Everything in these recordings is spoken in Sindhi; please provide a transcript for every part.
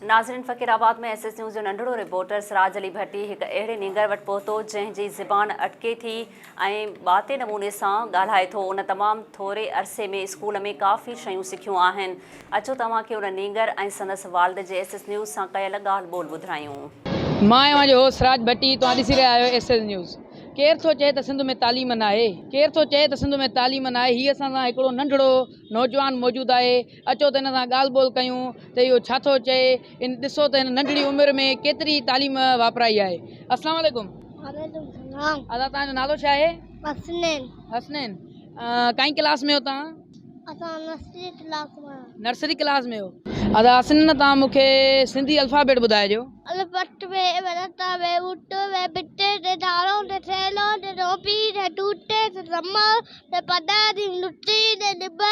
ناظرين Faqirabad ۾ S S news جو ننڍڙو رپورٽر سراج علي ڀٽي هڪ اهڙي نينگر وٽ پهتو جنهن جي زبان اٽڪي ٿي ۽ ٻاتي نموني سان ڳالهائي ٿو ان تمام ٿوري عرصي ۾ اسڪول ۾ ڪافي شيون سکيون آهن اچو توهان کي ان نينگر ۽ سندس والد جي ايس ايس نيوز سان ڪيل ڳالهه ٻول ٻڌرايون. مان اوهان جو هوسٽ سراج ڀٽي توهان ڏسي رهيا آهيو ايس ايس نيوز ڪير ٿو چئي ته سنڌ ۾ تعليم ناهي ڪير ٿو چئي ته سنڌ ۾ تعليم ناهي هي اسان سان هڪڙو ننڍڙو نوجوان موجود آهي. اچو ته هن سان ڳالهه ٻولهه ڪيون ته اهو ڇا ٿو چئي ان ڏسو ته هن ننڍڙي عمر ۾ ڪيتري تعليم واپرائي آهي السلام عليڪم وعليڪم سلام ادا توهان جو نالو ڇا آهي حسنين حسنين ڪائين ڪلاس ۾ هو توهان اسان نرسري ڪلاس ۾ نرسري ڪلاس ۾ هو ادا حسنين توهان مون کي سنڌي الفابيٽ ٻڌائجو الفبيٽ ۾ ورتا ۾ وٽ ۾ بٽي تي ڌارو تي ٿيلو تي ٽوپي تي ٽوٽي تي رمال تي پڏا تي لٽي تي ڏٻا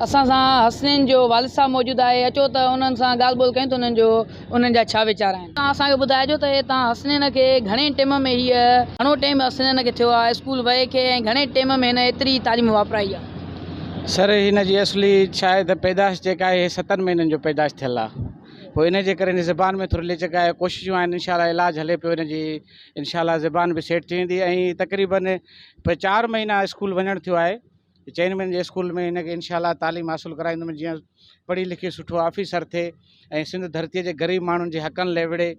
اسان سان حسنين جو والد صاحب موجود آهي اچو ته انهن سان ڳالهه ٻولهه ڪيون ته انهن جو انهن جا ڇا ويچار آهن. تان اسان کي ٻڌائجو ته تان حسنين کي گهڻي ٽيم ۾ هيء گهڻو ٽيم حسنين کي ٿيو آهي اسڪول وئي کي ۽ گهڻي ٽيم ۾ هن ايتري تعليم واپرائي آهي. سر هن جي اصلي شايد پيدائش جيڪا آهي هي ستن مهينن جو پيدائش ٿيل آهي پوء ان جي ڪري هن جي زبان ۾ ٿوري لچڪ آهي ڪوششون آهن انشاء الله علاج هلي پيو هن جي. انشاء الله زبان به سيٽ ٿي ويندي ۽ تقريبن چار مهينا اسڪول وڃڻ ٿيو آهي چئن مهينن جي اسڪول ۾ هن کي انشاء الله تعليم حاصل ڪرائيندم جيئن پڙهي لکي سٺو آفيسر ٿئي ۽ سنڌ ڌرتيء جي غريب ماڻهن جي حقن لي وڙهي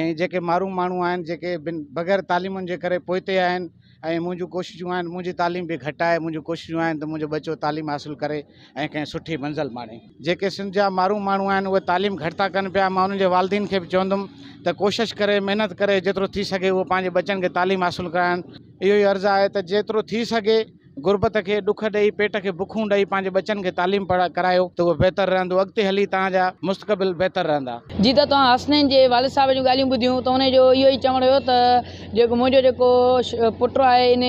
۽ جيڪي مارون ماڻهو آهن جيڪي بن بغير تعليمن جي ڪري پوئتي آهن ۽ منهنجون ڪوششون آهن منهنجي تعليم به گهٽ آهي منهنجون ڪوششون آهن ته منهنجو ٻچو تعليم حاصل ڪري ۽ ڪنهن سٺي منزل ماڻي جيڪي سنڌ جا مارون ماڻهو آهن اهي تعليم گهٽ ٿا ڪن پيا مان انهن جي والدين کي به چوندم ته ڪوشش ڪري محنت ڪري جيترو ٿي سگهي اهو پنهنجي ٻچن کي تعليم حاصل ڪرائن اهو ئي عرض آهي ته جيترو ٿي سگهي غربت کي ڏک ڏئي پيٽ کي بکون ڏئي پنهنجي ٻچن کي تعليم پڙهائي ڪرايو ته اهو بهتر رهندو اڳتي هلي توهان جا مستقبل بهتر رهندا. جي ته توهان حسنين جي والد صاحب جون ڳالهيون ٻڌيون ته انهن جو اهو ئي چوڻ هيو ته. جيڪو منهنجو جيڪو پٽ آهي ان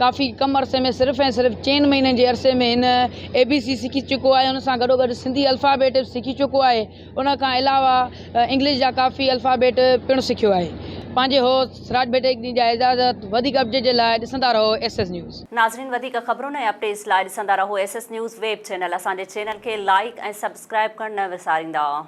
ڪافي ڪم عرصي ۾ صرف ۽ صرف چئن مهينن جي عرصي ۾ هن اي بي سي سکي چڪو آهي ان سان گڏو گڏ سنڌي الفابيٽ به سکي چڪو آهي ان کان علاوه انگلش جا ڪافي الفابيٽ پڻ سکيو آهي پنهنجي هو سراج بيٽيڪني جا اعزاز وڌيڪ اپڊيٽ جي لاء ڏسندا رهو ايس ايس نيوز. ناظرين وڌيڪ خبرن ۽ اپڊيٽس لاء ڏسندا رهو S S news web channel اسان جي چينل کي لائيڪ ۽ سبسڪرائيب ڪرڻ نه وساريندا.